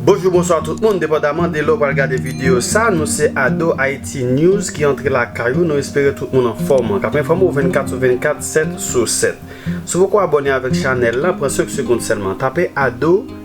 Bonjou bonswa tout moun depandaman de lè ou pral gade videyo sa nou se Ado Haïti News ki antre lakay ou nou espere tout moun anfòm k ap enfòme ou 24 sou 24 7 sou 7 si w poko abòne avèk chanèl la pran 5 segonn sèlman tape Ado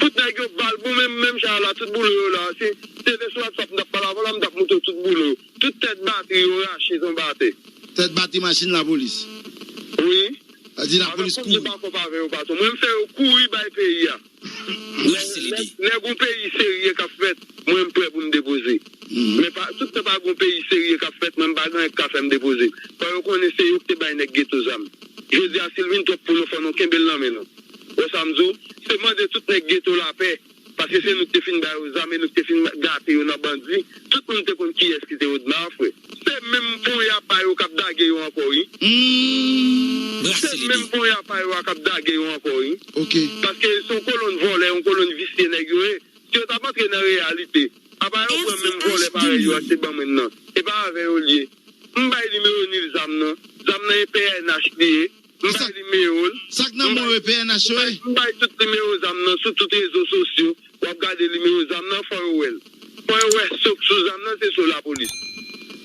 Tout nèg yo balbou menm menm chay la tout boule yo la si se te sou whatsapp m tap pale avèw la m tap moutre w tout boule yo tout tèt batri yo rache se yon ba atè. Tèt batri machin lapolis. Wi. Sa di lapolis kouri. Avèk kout de bakòp avè yo paton. Mwen m fè yo kouri bay peyi a. Lè nèg yon peyi serye kap fèt mwen m prè pou m depoze. Men tout tan pa gen yon peyi serye kap fèt mwen m pa gen anyen ki ka fèm depoze. Fò yo konnen se yo ki te bay nèg geto zam. Jodi a si l vin twòp pou nou fò nou kenbe l nan men nou. Wè sa m di w? Se mande tout nèg geto lapè, paske se nou ki te fin ba yo zam e nou ki te fin gate yo nan bandi. Tout moun te konn kiyès ki te Odma an frè. Se menm bon ya pa yo k ap dage yo ankò wi. Se menm bon ya pa yo a k ap dage yo ankò wi. Paske se yon kolonn vòlè, yon kolonn visye nèg yo ye. Si yo t ap antre nan reyalite, apa yo pran menm vòlè parèy yo achte ban mwen nan? E pa avè yo l ye? M bay nimewo Nil zam nan. Zam nan e pnh li ye. M bay nimewo l. Sak nan mwen we pnh we. M bay tout nimewo zam nan sou tout rezo sosyo wap gade nimewo zam nan fò yo wèl fò yo wè so k sou zam nan se so lapolis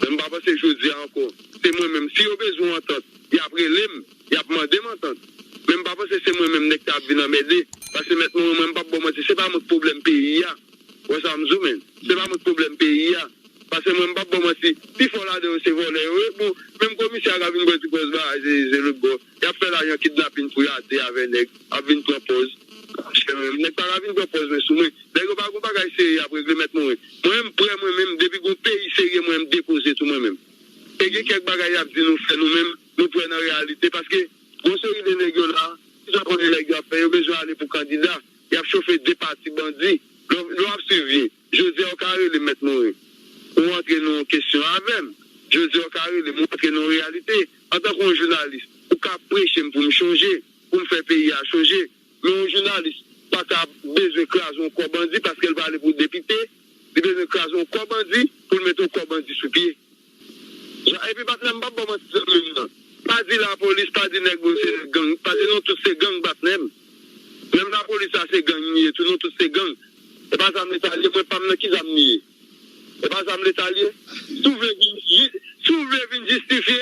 men m pa panse jodia ankò se mwen menm si yo bezwen antant yap relem yap mandem antant men m pa panse se mwen menm nèg sa ap vin anmède paske mèt morin mwen m pap baw manti se pa mwen k pwoblèm peyi a. Wè sa Mzou menn se pa mwen k pwoblèm peyi a pase mwen mpap baw manti pi fò ladan yo se vòlè yo ye bon menm komisè a ka vin bwè ti pòz ba a se lòt bò yap fè lajan kidnapin pou ya de avè nèg ap vin pran pòz chè menm nèg paka vin pran pòz men sou mwen nèg yo pa gon bagay serye yap regle mèt morin mwen menm prè mwen menm depi gon peyi serye mwen menm depoze tou mwen menm e gen kèk bagay yap di nou fè nou menm nou prè nan reyalite paske gon seri de nèg yo la ki sa konnen nèg yo ap fè yo bezwen ale pou kandida. Yap chofe de pati bandi. Lè wap swiv vye José ou ka rele mèt morin ou antre nan yon kesyon avèm José ou ka relem ou antre nan yon reyalite antanke yon jounalis ou ka prechem poum chonje poum fè peyi a chonje men yon jounalis paka bezwen kraze yon kò bandi paskel pale pou depite li bezwen kraze yon kò bandi poul mete yon kò bandi sou pye. Jan epi patnèm pap baw manti zanmi m nan pa di lapolis pa di nèg moun se nèg gang pase nou tout se gang patnèm menm lapolis sa se gang li ye tou nou tout se gang epa zam leta liye mwen pam nan ki zam liye epa zam leta liye si w vle vin si w vle vin jistifye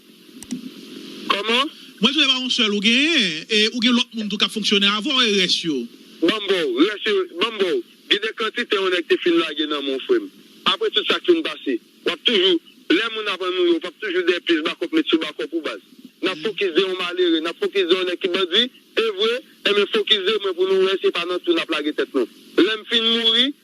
Koman? Mwen jwe pa yon sèl ou genyen e ou gen lòt moun tou kap fonksyone avèw e rès yo. Banm baw rès yo banm baw gen de kantite yon nèg te fin lage nan menw frèm aprè tout sak fin pase wap toujou lè moun ap annuiye w pap toujou dèyè pyès bakòp met sou bakòp ou baz nap fokis de yon malere nap fokis de yon nèg ki bandi evre enben fokis de mwen pou nou wè se pa nan tou nap lage tèt nou lèm fin mouri